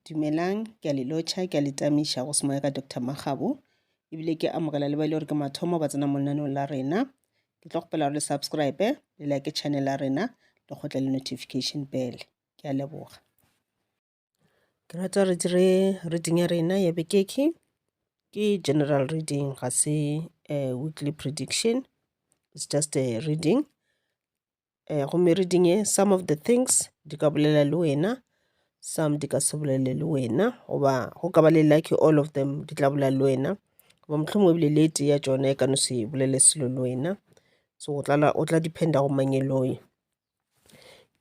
Dumelang, ke a le lotšha, ke a le tamiša go se moya ka Doctor Makgabo, ebile ke amogela le ba e le gore ke mathomo ba tsena mo lenaneong la rena. Ke tlo kgopela gore le subscribe, le like channel ya rena, le kgotle le notification bell. Ke a leboga. Ke rata re dire reading ya rena ya bekeke, ke general reading, ga se eh, weekly prediction, it's just a reading. um gomme re di nye some of the things di ka bolela le wena, some di ka se bolele le wena goba go ka ba le lucky all of them di tla bolela le wena goba mohlomongwe ebile le e tee ya tšona e ka no se bolele selo le wena so o tla, o tla dependa go mang e le oe.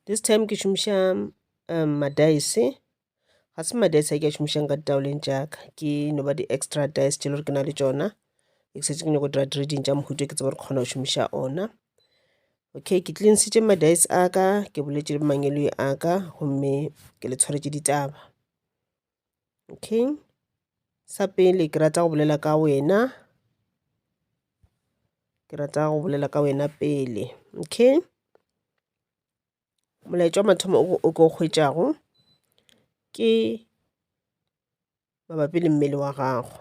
This time ke šomiša um madaese ga se madi a sa ke a šomišang ka ditaoleng tša ka ke no ba di-extra dice tše le gore ke na le tšona ke setse ke nyako dira trading tša mohuto ke tseba gore kgona go šomiša ona okay ke tlinsitše madice a ka ke boletše le mangeloi a ka gomme ke le tshwaretše ditaba okay sa pele ke rata go bolela ka wena ke rata go bolela ka wena pele okay molaetša wa mathomo o ko hwetšago ke mabapi le mmele wa gago.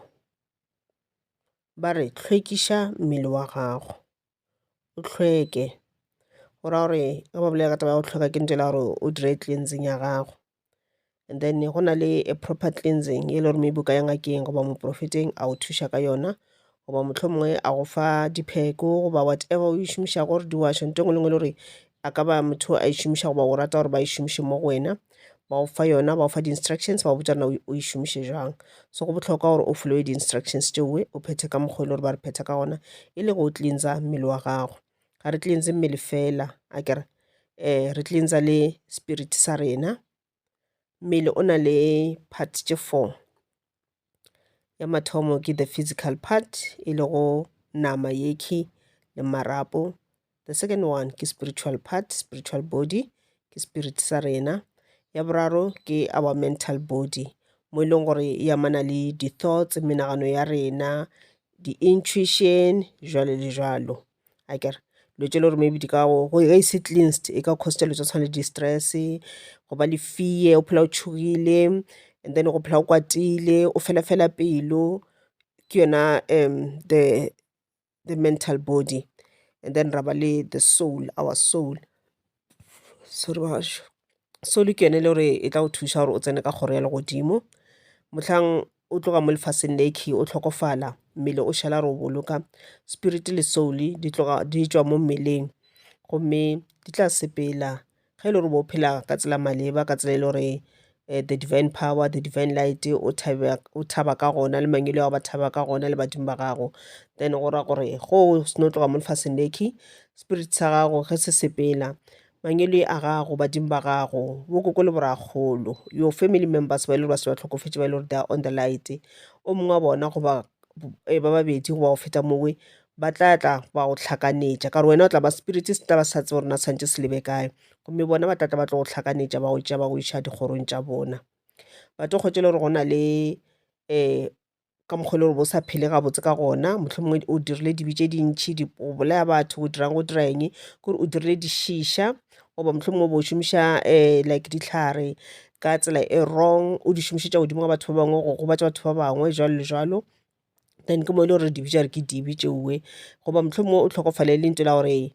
Ba re hlwekiša mmele wa gago, o hlweke. Go ra gore ge ba bolela ka taba ya go hlweka ke ntše e le ya gore o dire cleansing ya gago. and then go na le a proper cleansing e le gore maybe o ka ya ngakeng goba moprofeteng a o thuša ka yona goba motlho mongwe a go fa dipheko goba whatever o e šomišago gore di washo nto ngwe le ngwe le gore a ka ba motho a e šomiša goba o rata gore ba e šomiše mo go wena ba o fa yona ba o fa di-instructions ba o botsa na o e šomiše jwang so go bohlokwa gore o followe di-instructions tšeoe o phethe ka mokgwa e le gore ba re phetha ka gona e le go cleansa mmele wa gago ga re cleanse mmele fela a kere um re cleansa le spirit sa rena mmele o na le part tše four ya mathomo ke the physical part e lego nama yekhwi le marapo the second one ke spiritual part spiritual body ke spirit sa rena ya boraro ke our mental body mo e leng gore e amana le di-thoughts menagano ya rena di-intuition jwalo le jwalo a kere lo tše le gore maybe di ka go ge e se cleansed e ka cause lo tsa tshwana le di-stress go ba le fear o phela o tšhogile and then go phela o kwatile o fela fela pelo ke yona um the the mental body and then ra ba le the soul, our soul. solo ke yone le gore e tla go thuša gore o tsene ka kgoro ya legodimo mohlang o tloga mo lefaseng le key o hlokofala mmele o šala re o boloka spirit le soul di tloga di tšwa mo mmeleng gomme di tla sepela ge e le gore bo phela ka tsela maleba ka tsela e le gore um the divine power the divine light o thaba o thaba ka gona le mangwele a gago ba thaba ka gona le badimo ba gago then go ra gore go o seno tloga mo lefaseng lekhwi spirit sa gago ge se sepela mangwele a gago badimo ba gago bo koko le borakgolo your family members ba e le gore ba se ba tlhokofetše ba e le gore they are on the light o mongwe wa bona goba eh, ba babedi goba go feta mowe ba tla tla ba go tlhakanetša ka gore wena o tla ba spirit se tla ba sa tsebe gore na santše se lebe kae gomme bona ba tlatla ba tlo go hlakanetša ba go tšea ba go iša dikgorong tša bona ba tlo kgwetša le gore go na le um ka mokgwa e le gore bo sa phele gabotse ka gona mohlomongwe o dirile dibe tše dintšhi o bolaya batho o dirang o dira eng kore o dirile dišiša goba mohlomongwe bo šomiša um like dihlare ka tsela e wrong o di šomišetša godimo ga batho ba bangwe go gobatša batho ba bangwe jwalo le jwalo then ke mo e le gore re di bitša re ke dibe tšeue goba mohlomongwe o hlokofale e le ntho la gore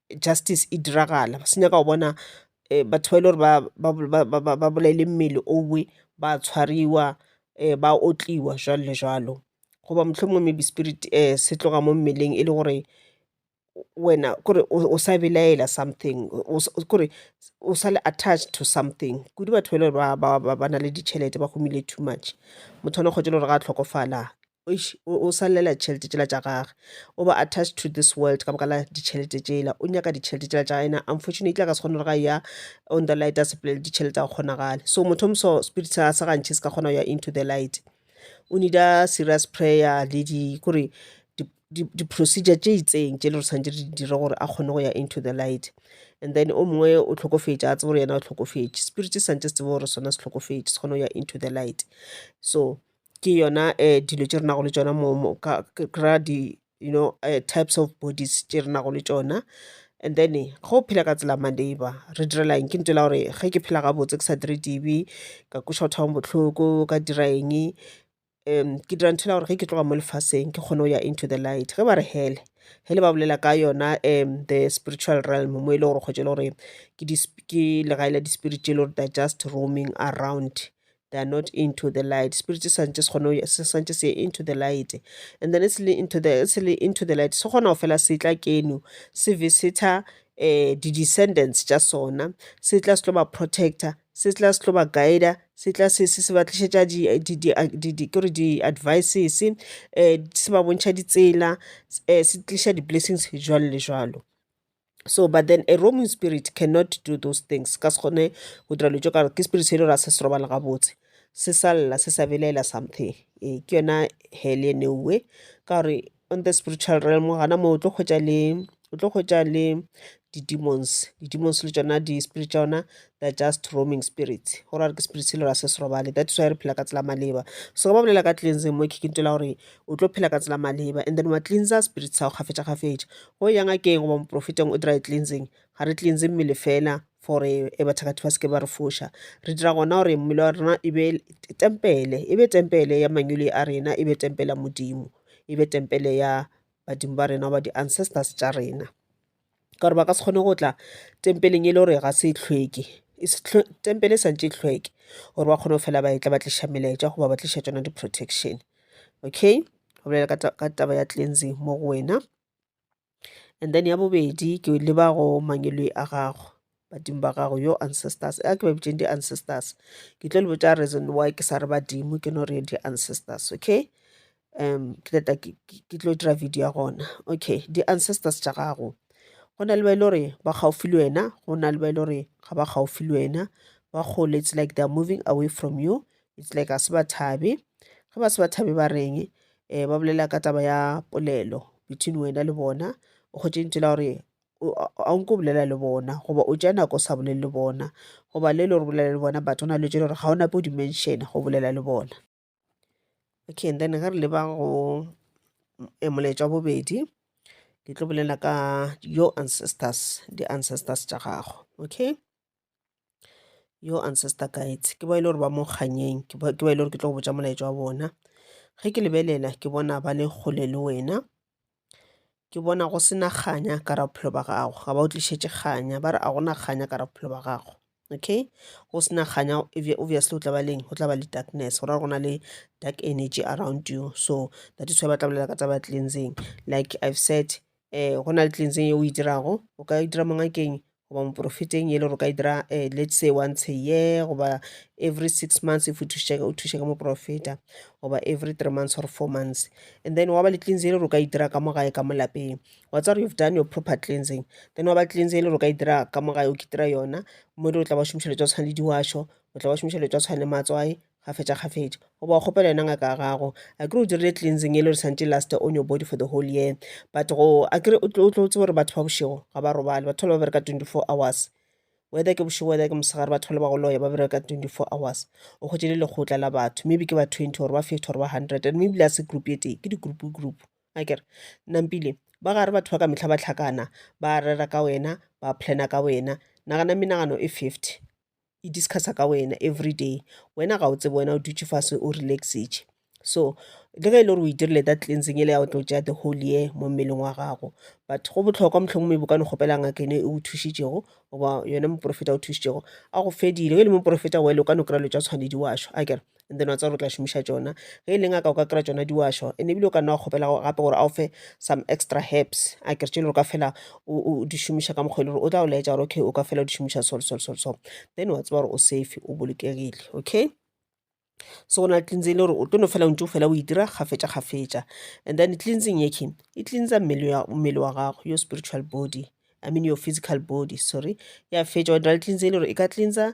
justice e diragala se nyaka go bona batho ba e le gore ba bolaile mmele owe ba tshwariwa ba otliwa jwalo le jwalo. Goba mohlomongwe maybe spirit se tloga mo mmeleng e le gore wena kore o sa belaela something kore o sa le attached to something kudu batho ba e le gore ba na le ditšhelete ba humile too much motho a no kgwetšela gore ga hlokofala eish o sa llela ditšhelete tšela tša gage o ba attached to this world ka baka la ditšhelete tšela o nyaka ditšhelete tšela tša gage ena unfortunately a ka se kgone gore ga ya on the light a sepolele ditšhelete tsa go kgonagale so motho o moso spirit sa sa gantšhe se ka kgona go ya into the light o nida serious prayer le di kore di-procedure tše itseng tše le re tshwanetse re dire gore a kgone go ya into the light and then o mongwe o tlhokofetše a tsebe gore yena o tlhokofetše spirit se santse se tsebe gore sona se tlhokofetše se kgone go ya into the light so ke yona um dilo tše re nago le tšona you know types of bodies tše re nago le tšona. And then ge o phela ka tsela ya ma labour re direla eng, ke ntho yela gore ge ke phela gabotse ke sa dire dibe, ka kweša batho ba bangwe bohloko, ka dira eng, ke dira ntho yela gore ge ke tloga mo lefaseng ke kgone go ya into the light. Ge ba re hell, hell ba bolela ka yona um the spiritual realm mo e le gore kgotsa e le gore ke legae la di-spirit tše e le gore they are just roaming around they are not into the light spirit sa ntse se kgone se sa ntse se into the light and then it's le into the it's le into the light se kgona go fela se tla keno se visita eh di-descendants tša sona se tla se tlo ba protector se tla se tlo ba guider se tla se se se ba tlišetša kore di-advices um se ba bontšha ditsela um se tliša di-blessings jwalo le jwalo so but then a roaming spirit cannot do those things ka se kgone go dira dilo tso kare ke spirit se e le gore a se se robala gabotse se sa lla se sa belaela something ee ke yona hell ye newe ka gore on the spiritual realm gana moo o tlo kgwetsa le o tlo kgwetsa le di-demons di-demons le tsona di-spirit tsa yona they are just roaming spirits go ra re ke spirit se le ra se se robale that is why re phela ka tsela maleba so ga ba bolela ka cleansing mo kikintwe la gore o tlo phela ka tsela maleba and then wa cleansa spirit sa go kgafetša kgafetša go yang a keng goba moprofeteng o dry cleansing ga re cleanse mmele fela for e bathakati ba seke ba re foša re dira gona gore mmele wa rena e be tempele e be tempele ya manyole a rena e be tempele ya modimo e be tempele ya badimo ba rena goba di-ancestors tša rena ka gore ba ka se kgone go tla tempeleng e le gore ga se e hlweke tempele e sa ntše e hlweke gore ba kgone go fela ba e tla ba tliša melaetša goba ba tliša tšona di-protection okay go bolela ka taba ya cleansing mo go wena and then ya bobedi ke leba go mangwelwe a gago badimo ba gago yo ancestors a ke ba bitšeng di-ancestors ke tlo le botša reason why ke sa re badimo ke no re di-ancestors okay um ke tata ke tlo dira video ya gona okay di-ancestors tša gago go na le ba e le gore ba gaufi le wena go na le ba e le gore ga ba gaufi le wena ba kgole it's like they're moving away from you it's like a se ba thabe ge ba se ba thabe ba reng um ba bolela ka taba ya polelo between wena le bona o kgotše ntse la gore a o nke o bolela le bona goba o tša nako o sa bolele le bona goba le le gore bolela le bona but o na le tše le gore ga o nape o dimension go bolela le bona okay and then ge re leba go eh, molaetša wa bobedi ke tlo bolela ka your ancestors di-ancestors tša gago okay yo ancestor guides ke ba e le gore ba mo kganyeng ke ba e le gore ke tlo go botša molaetša wa bona ge ke lebelela ke bona ba le kgole le wena ke bona go sena kganya ka ra bophelo ba gago ga ba o tlišetše kganya ba re a gona kganya ka ra bophelo ba gago okay go sena kganya obviously o tla ba leng go tla ba le darkness go ra go na le dark energy around you so that is why ba tla bolela ka tsa ba cleansing like i've said um go na le cleansing e o e dirago o ka e dira mongakeng goba moporofeteng yele gore o ka e dira eh, let's say once a year goba every six months if o thuše ka- o thuše ka moporofeta goba every three months or four months and then wa ba le cleanse yele gore o ka e dira ka mo gae ka mo lapeng wa tsara you've done your proper cleansing then wa ba cleanse yele gore o ka e dira ka mo gae o kitira yona mo o tla ba šomiša le tsa tshwana le diwašo o tla ba šomiša le tsa tshwana le matswai kgafetšakgafetša goba o kgopela yona ngaka ya gago akere o dirile cleansing ele re santše last on your body for the whole year but go akere o tlo tsebe gore batho ba bošego ga ba robale batho ba ba bereka 24 hours whether ke bošego whether ke mosegare batho ba le ba go loya ba bereka 24 hours o kgwetše le lekgotla la batho maybe ke ba 20 gore ba 50 gore ba 100 and maybe la se group ye tee ke di-group group akere nampile ba gare batho ba ka mehla ba tlhakana ba rera ka wena ba plana ka wena nagana menagano e 50 e discussa ka wena every day wena ga o tsebe wena o dutše fase o relaxitše so le ge e le gore o e dirile that cleansing e le ya go tlo tšea the whole year mo mmeleng wa gago but go botlhokwa mohlomong maybe o ka no kgopela ngaka ene e o thušitšego goba yone moporofeta o thušitšego a go fedile ge e le moporofeta wele o ka no kry-a lo tša tshwanedi wa šwa a kere and then wa tseba gore o tla šomiša tšona ge e leng a ka o ka kry-a tšona diwašwa and ebile o ka nna wa kgopela gape gore a o fe some extra herbs a kere tše e le gore ka fela o di šomiša ka mokgwa e le gore o tla o laetša gore okay o ka fela o di šomiša so so so so then wa tseba gore o safe o bolokegile okay so go na le cleansing e le gore o tlo no fela o ntse o fela o e dira gafetša gafetša and then cleansing yeke e cleansa mmele wa gago your spiritual body i mean your physical body sorry ya fetša wa dira le cleansing e le gore e ka cleansa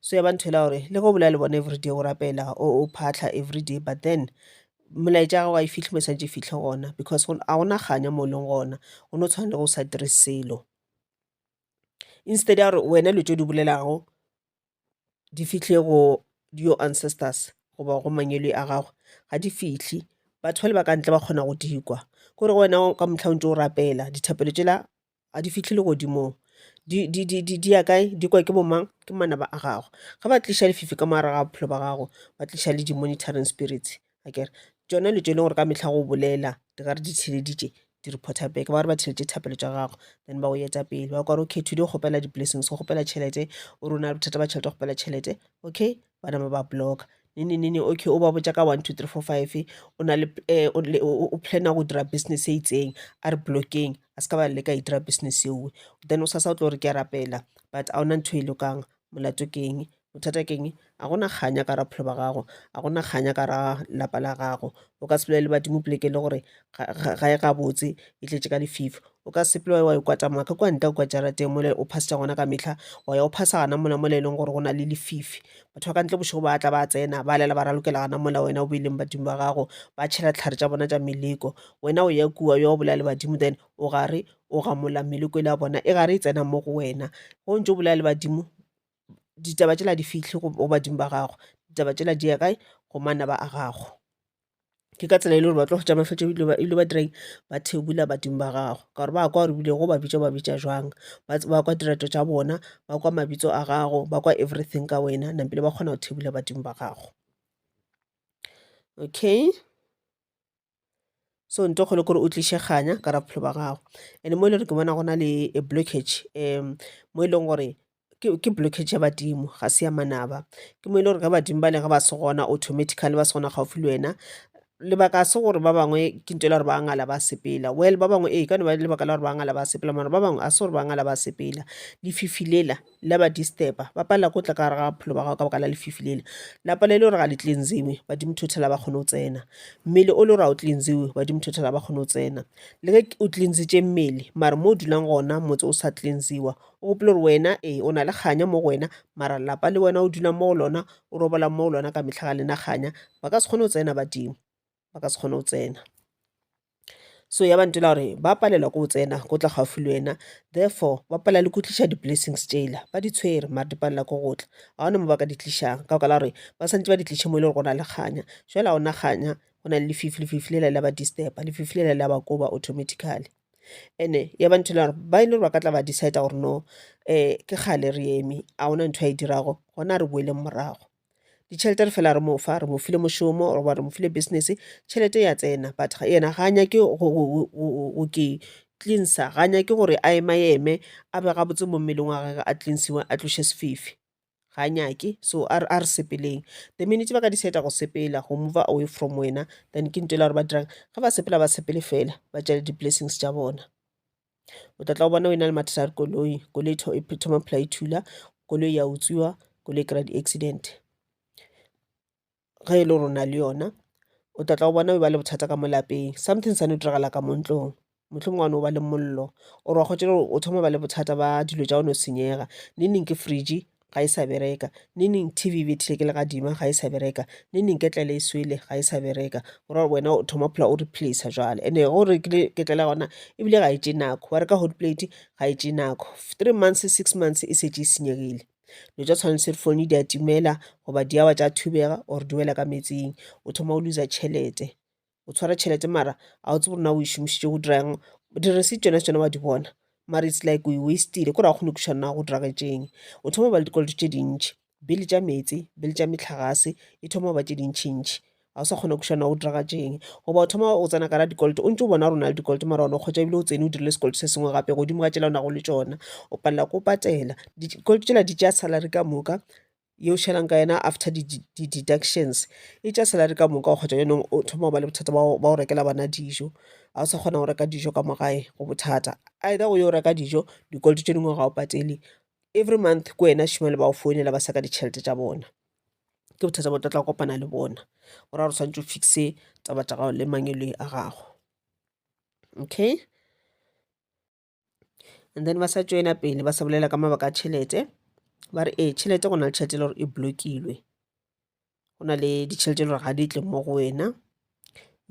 so ya ba ntho ela gore le go bolela le bona everyday o rapela o phatlha everyday but then molaetša ya gago ga e fitlhe mo santse e fitlhe gona because a gona kganya mo e leng gona go no tshwana le go sa dire selo instead ya gore wena dilo tse di bolelago di fitlhe go your ancestors goba go mangwele a gago ga di fitlhe batho ba le ba ka ntle ba kgona go di kwa kore wena ka motlha o ntse o rapela dithapelo tšela ga di fihle legodimong di ya kae di kwa ke bo mang ke manaba a gago ge ba tliša lefifi ka mogare ga bophelo ba gago ba tliša le di-monitoring spirits akere tšona dilo tše e leng gore ka mehla go bolela di ka re di theeleditše di reporter back ba re ba theeleditše dithapelo tša gago then ba go eta pele ba kwa re okay today o kgopela di-blessings o kgopela tšhelete o re o na le bothata ba tšhelete o kgopela tšhelete okay ba napa ba blocka nini nini okay o ba botša ka one two three four five o na le eh, o le- o- o plana go dira business e itseng a re blockeng a se ka ba leka e dira business eowe then o sasa o tlo gore ke a rapela but a ona ntho e lokang molato keng bothata keng a gona kganya ka ra bophelo ba gago a gona kganya ka ra lapa la gago o ka se bolele badimo poleke le gore ga ga- ga e gabotse e tletše ka lefifi O ka sepela wa ya wa ikwata maka kwa ntle kwa jarateng mole o phasitša gona ka mehla wa ya o phasa gana mola mola e leng gore go na le lefifi batho ba ka ntle bošego ba tla ba tsena ba lela ba ralokela gana mola wena o beileng badimo ba gago ba tšhela tlhare tša bona tša meleko wena o ya kua yo o bolaya le badimo then o gare o gamola meleko ile ya bona e gare e tsena mo go wena go ntse o bolaya le badimo ditaba tšela di fitlhe go badimo ba gago ditaba tšela di ya kae go manaba a gago ke ka tsela e le gore ba tlo hwetša mafahletše ebile ba ile ba direng ba thekgula badimo ba gago ka gore ba kwa gore ebile go ba bitša ba bitša jwang ba kwa dirato tša bona ba kwa mabitso a gago ba kwa everything ka wena nampile ba kgona go thekgula badimo ba gago okay so nto kgolo kore o tliše kganya ka ra bophelo ba gago and mo e le gore ke bona go na le a blockage um mo e leng gore ke blockage ya badimo ga se ya manaba ke mo e le gore ge badimo ba le ge ba se gona automatically ba se gona gaufi le wena lebaka se gore ba bangwe ke nto la gore ba ngala ba sepela well ba bangwe ee ka no ba lebaka la gore ba ngala ba sepela mara ba bangwe a se gore ba ngala ba sepela lefifi lela la ba disturba ba palela ko tla ka gare ga bophelo ba gago ka baka la lefifi lela la palela e le gore ga le cleansiwe badimo thothela ba kgone go tsena mmele o le gore ga o cleansiwe badimo thothela ba kgone go tsena le ge o cleansitše mmele mara mo o dulang gona motse o sa cleansiwa O gopola gore wena, ee, o na le kganya mo go wena, mara lelapa le wena o dula mo go lona, o robola mo go lona ka mehla ga lena kganya, ba ka se kgone go tsena badimo, ba ka se kgone go tsena. So ya ba ntela gore ba palelwa ke go tsena ko tla gaufi le wena, therefore ba palela le go tliša di-blessings tšela, ba di tshwere mare di palela ke go tla. Ga gona mo ba ka di tlišang ka baka la gore ba swantse ba di tliše mo e le gore go na le kganya, jwale ga gona kganya go na le lefifi, lefifi lela le a ba disturb-a, lefifi lela le a ba koba automatically. and-e ya ba ntho e le ya gore ba e le gore ba ka tla ba decide-a gore no ke kgale re eme ga gona ntho a e dirago gona re boeleng morago. Ditšhelete re fela re mo fa, re mo file mošomo goba re mo file business, tšhelete ya tsena but ena ga a nyake go ke cleanser, ga a nyake gore a ema-eme a be gabotse mo mmeleng wa gagwe, a cleansiwe, a tloše sefifi. ga nyake so a re sepeleng the minute ba ka decide go sepela go move away from wena then ke ntho e la gore ba dirang ga ba sepela ba sepele fela ba tšale di-blessings tša bona o tla tla o bona o e na le mathata a dikoloi koloi e thoma phela e thula koloi ya utswiwa koloi e kry-a di-accident ge e le gore o na le yona, o tla tla go bona e ba le bothata ka mo lapeng. Something sa no diragala ka mo ntlong, mohlomongwe wa no ba le mollo or wa kgotšela gore o thoma go ba le bothata ba dilo tša go no senyega. Neng neng ke fridge ga e sa bereka, neng neng T_V e bethile ke legadima ga e sa bereka, neng neng ketlele e swele ga e sa bereka. Go ra gore wena o thoma go phela o replacer jwale, and-e ge o rekile ketlele ya gona ebile ga e tšee nako. Wa reka hotplate ga e tšee nako, three months, six months e šetše e senyegile. Dilo tša tshwana le cellphone di a timela goba di a wa tša thubega or di wela ka metsing, o thoma o looser tšhelete. O tshwara tšhelete mara ga o tsebe gore na o e šomišitše go dira eng. Di-receipt tšona tšona wa di bona mara it's like o e waste-ile kore ga o kgone go kwešiša gore na go diragetšeng. O thoma go ba le dikoloto tše dintši, bill tša meetse, bill tša mehlagase e thoma go ba tše dintšintši ga o sa kgona kušana wa go diragatšeng goba o thoma o tsena kara dikoloto o ntse o bona gore o na le dikoloto mara one o kgotsa ebile o tsene o dirile sekoloto se sengwe gape godimo ga tšela o nago le tsona o palela ko patela dikoloto tšela di tšea salary ka moka ye o šalang ka yena after di-deductions e tša salary ka moka o kgotsa yonong o thoma go ba le bothata ba go rekela bana dijo ga o sa kgona go reka dijo ka mogae go bothata either go yo reka dijo dikoloto tše dingwe ga o patele every month ko wena šimane ba o founela ba saka ditšhelete tša bona ke bothata bo tla tla kopana le bona go ra gore swanetše o fixe taba tša gago le mangeloi a gago okay and then ba sa tšwela pele ba sa bolela ka mabaka a tšhelete ba re ee tšhelete go na le tšhelete e le gore e blokilwe go na le ditšhelete e le gore ga di tle mo go wena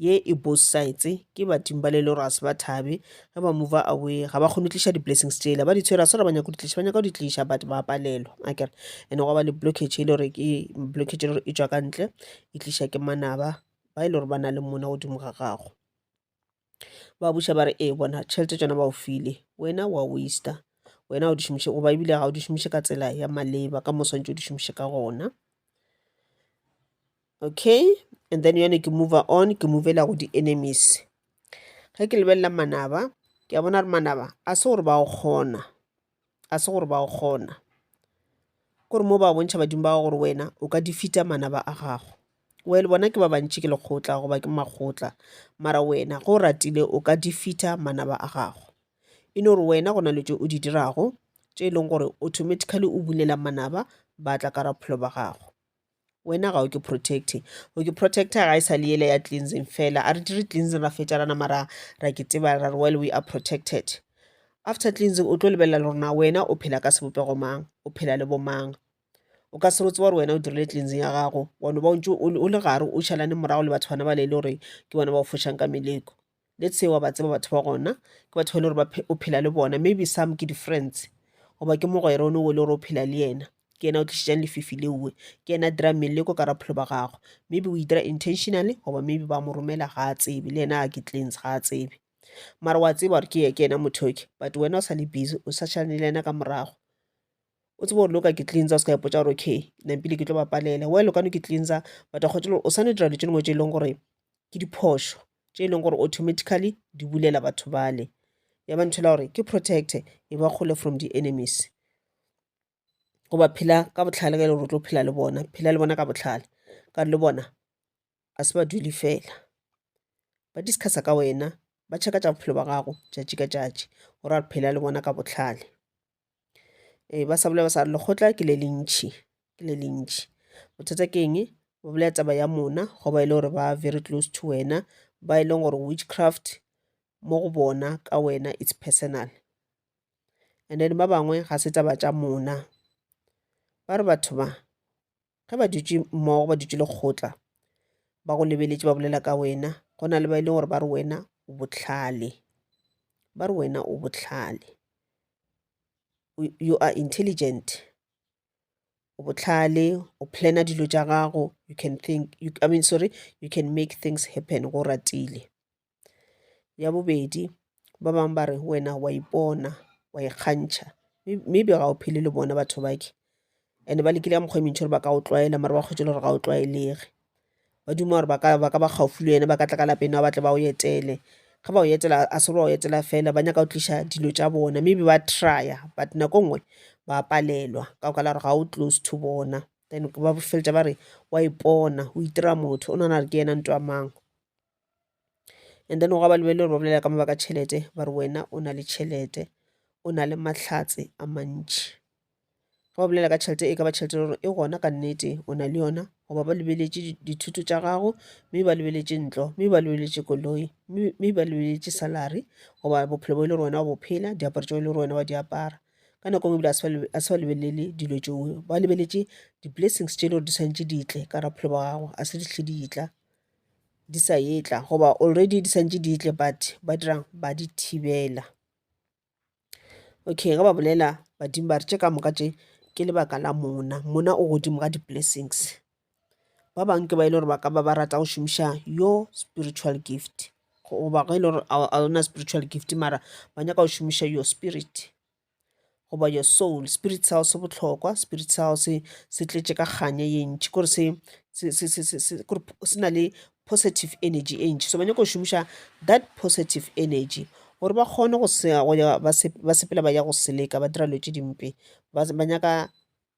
ye e both sides ke badimo ba le le gore ga se ba thabe ge ba move away ga ba kgone go tliša di-blessings tsela ba di tshwere ga se gore ba nyaka go di tliša ba nyaka go di tliša but ba palelwa akere and gwa ba le blockage e le gore ke blockage e le gore e tšwa ka ntle e tliša ke manaba ba e le gore ba na le mona godimo ga gago ba buša ba re ee bona tšhelete tsona ba o file wena wa wista wena o di šomiše goba ebile ga o di šomiše ka tsela ya maleba ka mo swantse o di šomiše ka gona okay and then yone ke move on ke movela go di-enemies ge ke lebelela manaba ke a bona gore manaba a se gore ba o kgona ga se gore ba go kgona kore mo ba bontšha badimo ba gago gore wena o ka defeata manaba a gago well bona ke ba bantši ke lekgotla goba ke makgotla mara wena go ratile o ka defeata manaba a gago e no gore wena go na le tše o di dirago tše e leng gore automatically o bulela manaba ba tla ka raphelo ba gago wena ga o ke protect o ke protect ga e sa le yele ya cleansing fela a re dire cleansing ra fetša rana mara ra ke teba ra re well we are protected after cleansing o tlo lebelela le gore na wena o phela ka sebopego mang o phela le bomang o ka se rotse gore wena o dirile cleansing ya gago wa no ba o ntse o le gare o šalane morago le batho bana ba le e le gore ke bona ba o fošang ka meleko le tseo wa ba tseba batho ba gona ke batho ba le gore o phela le bona maybe some ke di-friends goba ke mogwere one o le gore o phela le yena ke yena o tlišitšang lefifi leoe ke yena a dira mmele ko ka rapholo ba gagwe maybe o e dira intentionally goba maybe ba mo romela ga a tsebe le yena a ke clans ga a tsebe mara wa tseba gore ke ke yena motho ke but wena o sa le busy o sa tšhane le yena ka morago o tsebe gore le o ka ke cleansa o se ka ipotsa gore okay ke nampile ke tlo ba palela well o ka no ke cleansa but wa kgotša le gore o sa no dira dilo tše dingwe tše e leng gore ke diphošo tše e leng gore automatically di bulela batho bale ya ba ntho la gore ke protecte e ba kgole from di-enemies goba phela ka bohlale ka e le gore o tlo phela le bona phela le bona ka bohlale ka gore le bona ga se ba dule fela ba discussa ka wena ba check-a tša bophelo ba gago tšatši ka tšatši go ra re phela le bona ka bohlale Ee, ba sa bolela ba sa re lekgotla ke le le ntšhi, ke le le ntšhi. Bothata ke eng? Ba bolela taba ya mona go ba e le gore ba very close to wena, ba e leng gore witchcraft mo go bona ka wena it's personal. And then ba bangwe ga se taba tša mona, ba re batho ba. ge ba dutše mmogo ba dutše lekgotla ba go lebeletše ba bolela ka wena go na le ba e leng gore ba re wena o bohlale ba re wena o bohlale you are intelligent o bohlale o planner dilo tša gago you can think I mean sorry you can make things happen ge o ratile. ya bobedi ba bangwe ba re wena wa ipona wa ikgantšha May- maybe ga o phele le bona batho bake and ba lekile ka mokgwa e mentši gore ba ka o tlwaela mara ba kgwetšele gore ga o tlwaelege ba duma gore ba ka ba ka ba gaufi le wena ba ka tla ka lapeng ba tle ba o etele ge ba o etela a se gore ba o etela fela ba nyaka go tliša dilo tša bona maybe ba trya but nako nngwe ba palelwa ka go ka la gore ga o close to bona then ba feletša ba re wa ipona o itira motho o nagana gore ke yena nto ya mang and then gwa ba lebelele gore ba bolela ka mabaka tšhelete ba re wena o na le tšhelete o na le mahlatse a mantši ga ba bolela ka tšhelete e ka ba tšhelete gore e gona ka nnete o na le yona goba ba lebeletše dithuto tša gago mme ba lebeletše ntlo mme ba lebeletše koloi mme ba lebeletše salary goba bophelo bo e le gore wena wa bophela diaparo tšeo e le gore wena wa di apara ka nako nngwe ebile a se ba lebelele dilo tšeo ba lebeletše di-blessings tše e le gore di tshwanetse ditle ka ra bophelo ba gago a se dihle ditla di sa etla goba already di santse di etle but ba dirang ba di thibela okay ge ba bolela badimo ba re tše ka moka tše ke lebaka la mona mona o godimo ga di-blessings ba bangwe ke ba e le gore ba ka ba ba rata go šomiša yo spiritual gift goba ge e le gore a ona spiritual gift mara ba nyaka go šomiša your spirit goba your soul spirit cell se bohlokwa spirit cell se se tletše ka kganya ye ntši kore se se se se se se kore se na le positive energy e ntši so ba nyaka go šomiša that positive energy gore ba kgone go se go ya ba se ba sepela ba ya go seleka ba dira dilo tše dimpe ba ba nyaka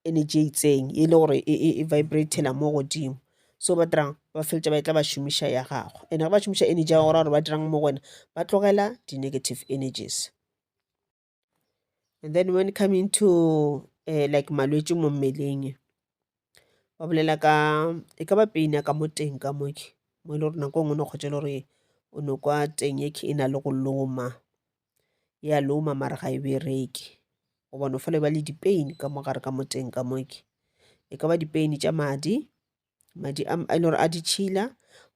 energy e itseng e le gore e e e vibratela mo godimo so ba dirang ba feleletša ba e tla ba šomiša ya gago and ge ba šomiša energy ya gora gore ba dirang mo go wena ba tlogela di-negative energies and then when coming to uh, like malwetši mo mmeleng ba bolela ka e ka ba peina ka mo teng ka moke mo e le gore nako ngwe no kgotse le gore o no kwa teng e e na le go loma ya loma mara ga e bereke o bona fela e ba le dipeini ka mogare ka mo teng ka moke e ka ba dipeini tša madi madi a e le gore a ditšhila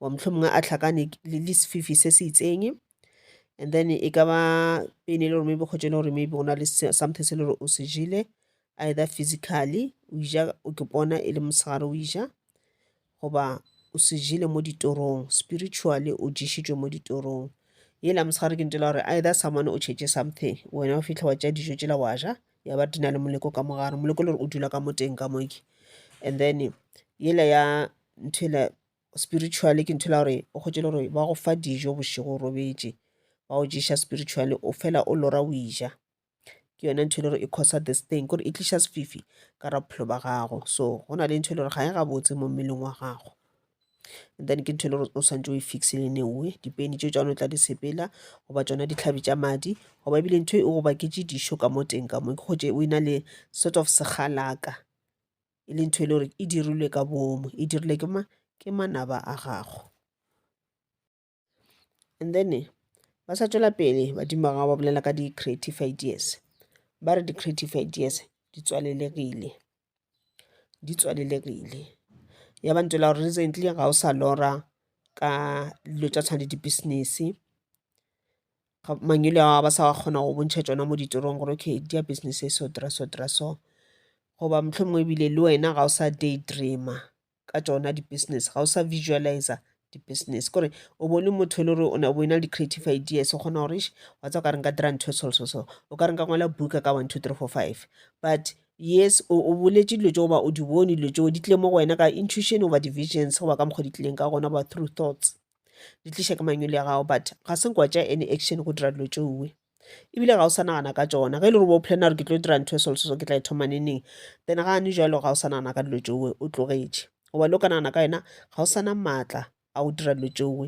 wa mohlomongwe a tlhakane le le sefifi se se itseng and then e ka ba pain e le gore maybe kgotse e le gore maybe go na le se- something se e le gore o se jele either physically o ija o ke pona e le mosegare o ija goba o se jele mo ditorong spiritually o ješitšwe mo ditorong yela mosegare ke ntela gore either someone o tšhetše something wena o fitlha wa tšea dijo tšela wa ja ya ba di na le moleko ka mogare moleko le gore o dula ka mo teng ka mo ke and then yela ya ntho yela spiritually ke ntho e le ya gore o kgwetše e le gore ba go fa dijo bošego o robetše ba go ješa spiritually o fela o lora o eja ke yona ntho e le gore e causer this thing ke gore e tliša sefifi ka gare ga bophelo ba gago so go na le ntho e le gore ga e gabotse mo mmeleng wa gago. then ke ntho e le gore o swantse o e fixile in a way dipeni tše tšone o tla di sepela goba tšona ditlhabi tša madi goba ebile ntho e go baketše dišo ka mo teng ka mo ke gotše o e na le sort of segalaka e le ntho e le gore e dirilwe ka boomo e dirilwe ke ma ke manaba a gago. And then ba sa tšwela pele badimo ba gago ba bolela ka di-creative ideas ba re di-creative ideas di tswalelegile di tswalelegile ya ba ntšwela gore recently ga o sa lora ka dilo tša tshwane di-business mangwele a ba sa kgona go bontšha tšona mo ditorong gore okay di ya business e so dira so dira so goba mohlomongwe ebile le wena ga o sa day dreamer. ka tšona di-business ga o sa visualisa di-business kore o bo le motho e le gore o bo na le di-creative ideas o kgona gore wa tsa o ka re nka dira ntho e so so so o ka re nka ngwala buka ka one two three four five but yes o boletše dilo tse goba o di bone dilo tseo di tlile mo go wena ka intuition goba di-visions goba ka mokgwa di tlileng ka gona goba through thoughts di tliša ke manyolo ya gago but ga se nkwa tša any action go dira dilo tšowe ebile ga o sa nagana ka tsona ge e le gore bo plan gore ke tlo dira ntho e solososo ke tla e thoma neneng then ga ne jalo ga o sa nagana ka dilo tšowe o tlogetše goba le o ka nagana ka yona ga o sana maatla a go dira dilo tšowe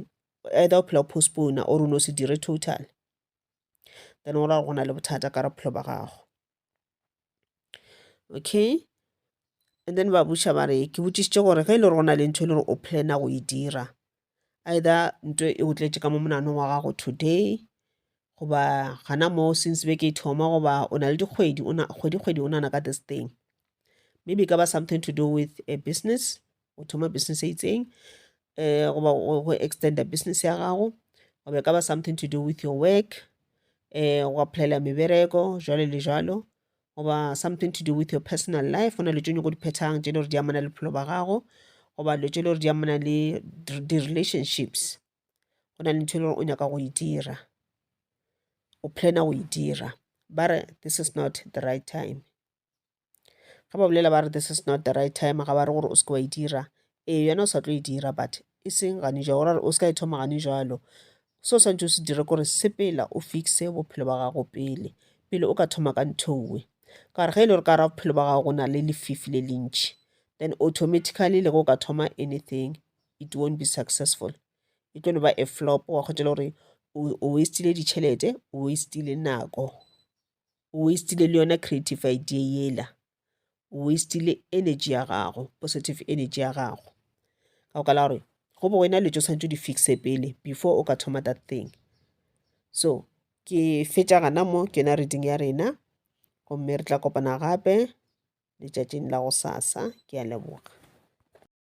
either o phela o postpone or o ne o se dire total then o ra go na le bothata ka re bophelo ba gago okay and then ba botša ba re ke botšišitše gore ge e le gore go na le ntho e le gore o plana go e dira either ntho e o tletše ka mo monanong wa gago today goba gana moo since be ke e thoma goba o na le dikgwedi kgwedi kgwedi o nana ka this thing maybe e ka ba something to do with a business go thoma business e itseng um goba go extender business ya gago goba e ka ba something to do with your work um go applyela mebereko jalo le jalo goba something to do with your personal life go na le tse nyoko di phethang tse e le gore di amana le bophelo ba gago goba dilo tse e le gore di amana le di-relationships go na le ntho e le gore o nyaka go e dira o planner go e dira ba re this is not the right time Ge ba bolela ba re this is not the right time, ga ba re gore o seke wa e dira. Ee, yona o sa tlo e dira but e seng gane jwalo. Go ra gore o se ka e thoma gane jwalo. Se o swanetše o se dire kore sepela o fix-e bophelo ba gago pele, pele o ka thoma ka ntho e nngwe. Ka gore ge e le gore ka gare ga bophelo ba gago go na le lefifi le le ntšhi, then automatically le ge o ka thoma anything, it won't be successful. E tlo no ba a flop, wa kgotša le gore o waste-ile ditšhelete, o waste-ile nako. o wastile le yona creative idea yela o wastile energy ya gago positive energy ya gago ka go kala gore go bo wena letšo santse o di fixe pele before o ka thoma that thing so ke fetša gana mo ke yona reading ya rena gomme re tla kopana gape letšatšing la go sasa ke a leboga